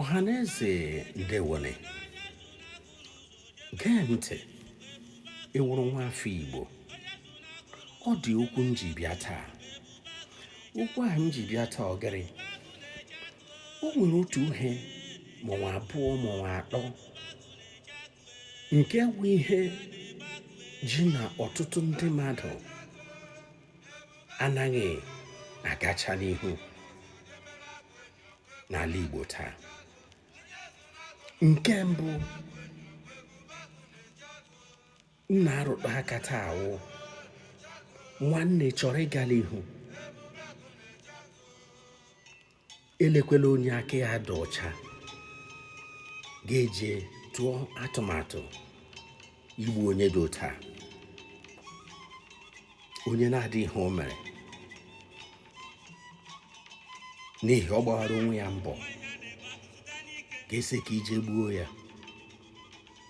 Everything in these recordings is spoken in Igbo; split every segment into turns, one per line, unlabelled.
ọhaneze ndewonụ gee ntị ị wụrụ nwa afọ igbo ọ dị okwu m ji bịa taa okwu ahụ m ji bịa taa ọ gịrị o nwere otu ihe ma ọ wụ abụọ ma ọ wụ atọ nke bụ ihe ji na ọtụtụ ndị mmadụ anaghị agacha n'ihu n'ala Igbo taa nke mbụ m na-arụtụ aka taa wụ nwanne chọrọ ịga n'ihu elekwela onye aka ya dị ọcha gị eje tụọ atụmatụ igbu onye dị otu a onye na-adịghị ihe o mere n'ihi ọ gbawara onwe ya mbọ gị asị ka i je gbuo ya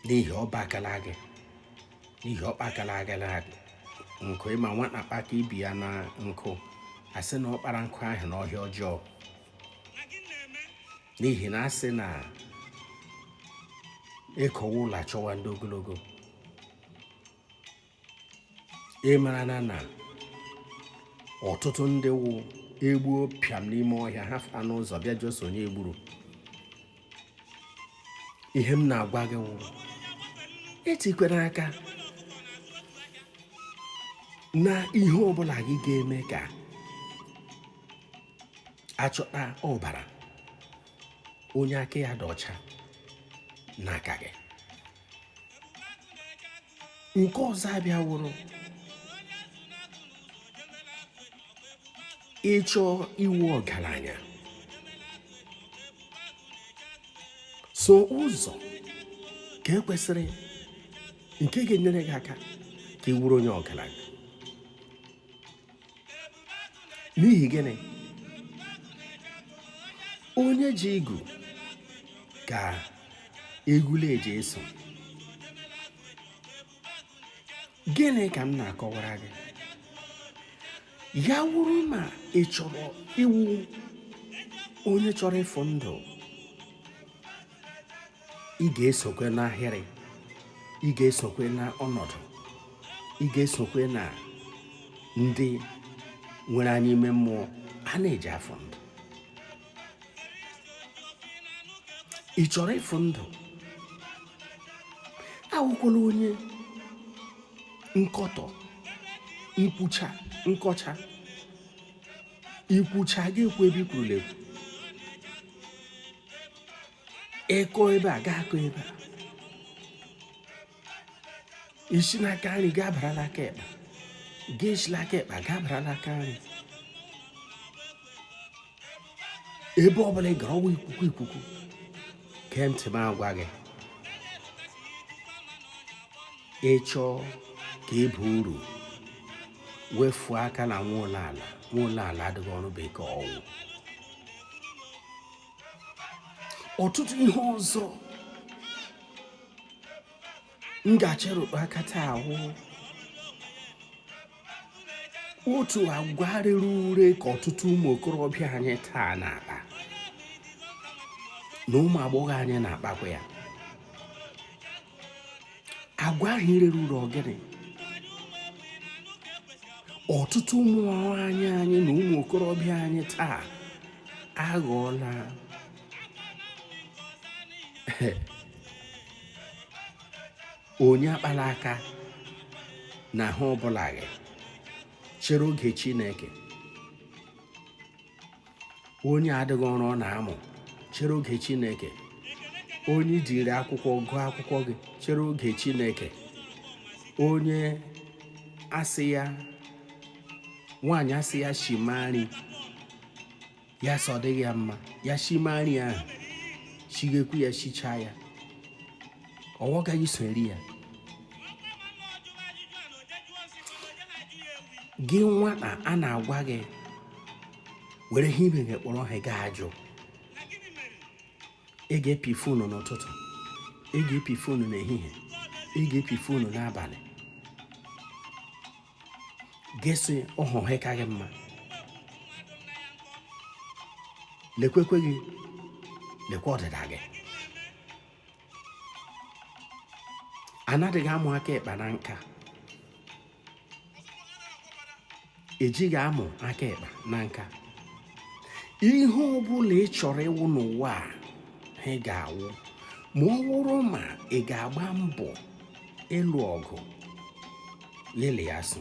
n'ihi ọ bakala gị n'ihi ọ kpakala gị nkụ ị ma nwata kpaka ibe ya na nkụ asị na ọ kpara nkụ ahụ n'ọhịa ọjọọ n'ihi na asị na ekowa ụlọ achọwa ndị ogologo ị mara na ọtụtụ ndị wụ egbuo pịam n'ime ọhịa ha fụta n'ụzọ bịa jụọ sị onye egburu ihe m na-agwa gị wụ etikwele aka na ihe ọbụla gị ga-eme ka achọta ọbara onye aka ya dị ọcha n'aka gị nke ọzọ abịa wụrụ ị chọọ ịwụ ọgaranya soo ụzọ ka ekwesịrị nke ga-enyere gị aka ka ị wụrụ onye ọgaranya n'ihi gịnị onye ji igu ka ewu na-eji eso gịnị ka m na-akọwara gị ya wụrụ ma ị chọrọ ịwụ onye chọrọ ịfụ ndụ ị ga-esokwe n'ahịrị ị ga-esokwe na ọnọdụ ị ga-esokwe na ndị nwere anya ime mmụọ a na-eji afụ ndụ ị chọrọ ịfụ ndụ awụkwala onye nkọtọ nkwucha nkọcha ikwucha gị ekwu ebe ikwurula ekwu ị kọọ ebe a ga-akọ ebe a i si n'aka nri ga-abara n'aka ịkpa gị esi n'aka ịkpa ga-abara n'aka nri ebe ọ bụla ị gara ọ wụ ikuku ikuku gee ntị m agwa gị ị chọọ ka ị baa uru wefuo aka na nwa ụlọ ala nwa ụlọ ala adịghị ọrụ bekee ọ wụ ọtụtụ ihe ọzọ m ga-achọ ịrụkpụ aka taa awụ otu agwa rere ure ka ọtụtụ ụmụ okorobịa anyị taa na-akpa na ụmụ agbọghọ anyị na-akpakwa ya agwa ahụ rere ure ọ gịnị ọtụtụ ụmụ nwaanyị anyị na ụmụ okorobịa anyị taa aghọọla onye akpala aka n'ihe ọbụla gị chere oge Chineke onye adịghị ọrụ ọ na-amụ chere oge chineke onye jiri akwụkwọ gụọ akwụkwọ gị chere oge chineke onye a sị ya nwaanyị a sị ya shima nri ya sị ọ dịghị ya mma ya shima nri ahụ shighekwu ya shichaa ya ọwọ gaghị eso eri ya gị nwata a na-agwa gị were ihe ibe gị kpọrọ ihe gị ajụ ị ga-epi fonu n'ụtụtụ ị ga-epi fonu n'ehihie ị ga-epi fonu n'abalị gị sị ọ wụ ihe ka gị mma lekwekwe gị lekwa ọdịda gị a nadịghị amụ aka ịkpa na nka ejighị amụ aka ịkpa na nka ihe ọ bụla ị chọrọ ịwụ n'ụwa a ị ga-awụ ma ọ wụrụ ma ị ga-agba mbọ ịlụ ọgụ niile ya so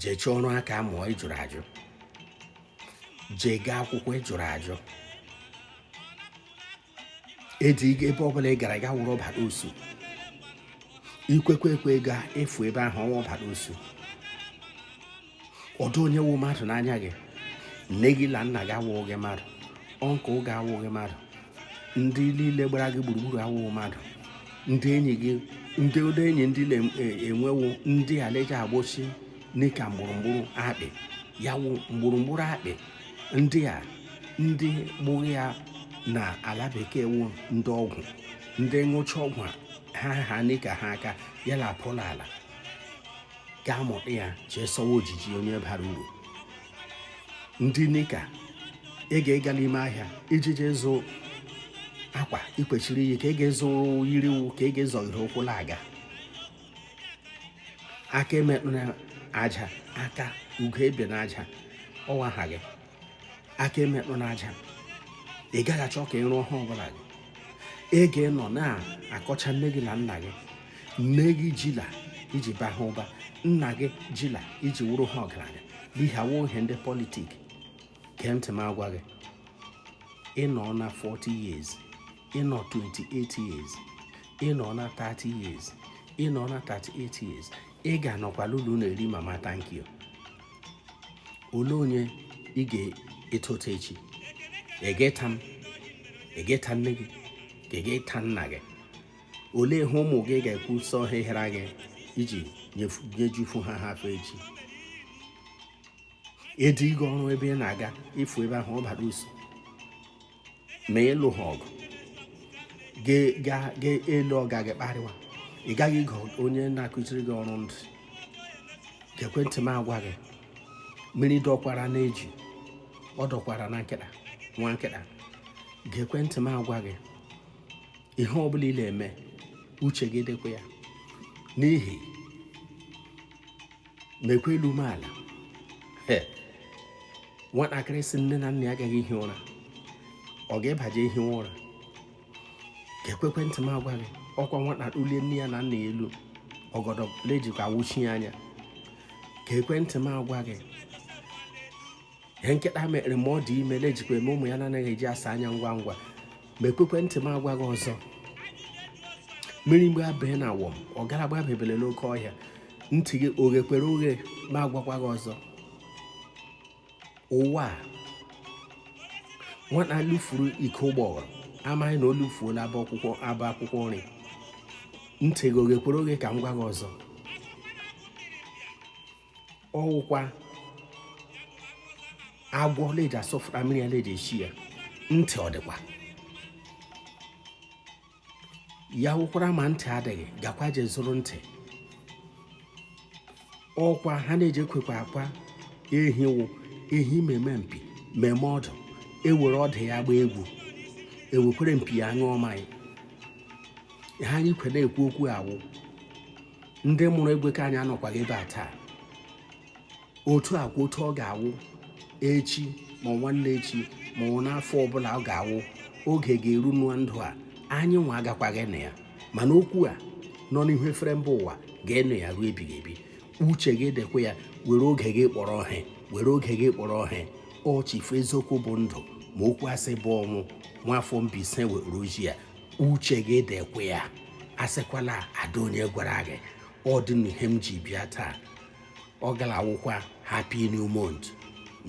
jee chọọ ọrụ aka mụọ ị jụrụ ajụ jee gaa akwụkwọ ị jụrụ ajụ eji ebe ọbụla ị gara ga wụrụ ọbara osu ikwekwe ekwe ga efu ebe ahụ ọnwa ọbara osu ọ dụ onye wụ mmadụ n'anya gị nne gị na nna gị awụghị gị mmadụ ọnkụl gị awụghị mmadụ ndị niile gbara gị gburugburu awụghị mmadụ ndị enyi gị ndị ụdọ enyi ndị na-enwewo e, ndị a la-eji agbochi n'ịka mgbụrụmgbụrụ akpị ya wụ mgbụrụmgbụrụ akpị ndị a ndị gburu ya na ala bekee wụ ndị ọgwụ ndị ṅụcha ọgwụ ha ha n'ịka ha aka ya na apụla ala ga-amụta ya chee sọwa ojiji onye bara uru ndị nika ị ga-ịga n'ime ahịa iji jee zụ akwa i kweshiri iyi ka ị ga-ezo yiriwu ka ị ga-ezọghịrị ụkwụ na-aga aka emekpụ n'aja aka ugo ebe na aja ọwa ha gị aka emekpụ n'aja ị gaghị achọ ka ị rụọ ha ọbụla gị ị ga-enọ na-akọcha nne gị na nna gị nne gị jila iji ba ha ụba nna gị jila iji wụrụ ha ọgaranya ihe a wụ ihe ndị politik gee ntị m agwa gị ị nọ na 40 years ị nọ 28 years ị nọ na 30 years ị nọ na 38 years ị ga-anọkwa la ụlọ na-eri mama thank you olee onye ị ga-eta ụta echi ị ga-eta m ị ga-eta nne gị ka ị ga-eta nna gị olee ihe ụmụ gị ga-ekwu sọ ha ihere gị iji nyejufu ha ha afọ echi ịdị gị ọrụ ebe ị na-aga ịfụ ebe ahụ ọ bara usu ma ị lụ ha ọgụ ga-elu ọga gị kparịwa ị gaghị ịgụ onye na-akụziri gị ọrụ ndụ gekwe ntị m agwa gị mmiri dọkwara n'eju ọ dọkwara na nkịta nwa nkịta gekwe ntị m agwa gị ihe ọ bụla ị na-eme uche gị dịkwa ya n'ihi mekwa elu mee ala nwatakịrị sị nne na nna ya agaghị ihi ụra ọ ga-ebaje ihi ụra gekwekwe ntị m agwa gị ọkwa nwata ulie nne ya na nna ya elu ọgọdọ la-ejikwa awụchi ya anya gekwe ntị m agwa gị ihe nkịta mere ma ọ dị ime lejikwa eme ụmụ ya na-anaghị eji asa anya ngwa ngwa ma ekwekwe ntị m agwa gị ọzọ mmiri mgbe abịa na awọm ọ gara gbabebele n'oke ọhịa ntị gị o ghekwere oghe m agwakwa gị ọzọ ụwa a nwata lufuru ike ụgbọghọrọ amaghị na o lufuola abọ akwụkwọ nri ntị gị o ghekwere oghe ka m gwa gị ọzọ ọ wụkwa agwọ leji asọfụta mmiri ya leji eshi ya ntị ọ dịkwa ya wụkwara ma ntị adịghị gakwa je zụrụ ntị ọkwa ha na-eji ekwekwa akwa ehi wụ ehi meme mpi meme ọdụ e were ọdụ ya gbaa egwu e wekwere mpi ya ṅụọ mmanya ha anyị kwere ekwu okwu a wụ ndị mụrụ egwe ka anyị anọkwaghị ebe a taa otu a kwa otu ọ ga-awụ echi ma nwanne echi ma ọ n'afọ ọbụla ọ ga-awụ oge ga-eru nwa ndụ a anyị nwa agakwaghị anọ ya mana okwu a nọ n'ihu efere mba ụwa ga-anụ ya ruo ebighị ebi uche gị dịkwa ya were oge gị kpọrọ ihe were oge gị kpọrọ ihe ọ Chief eziokwu bụ ndụ ma okwu asị bụ ọnwụ nwa afọ Mbaise nwere ozi a uche gị dịkwa ya asịkwala adị onye gwara gị ọ dị n'ihe m ji bịa taa ọ gara awụkwa happy new month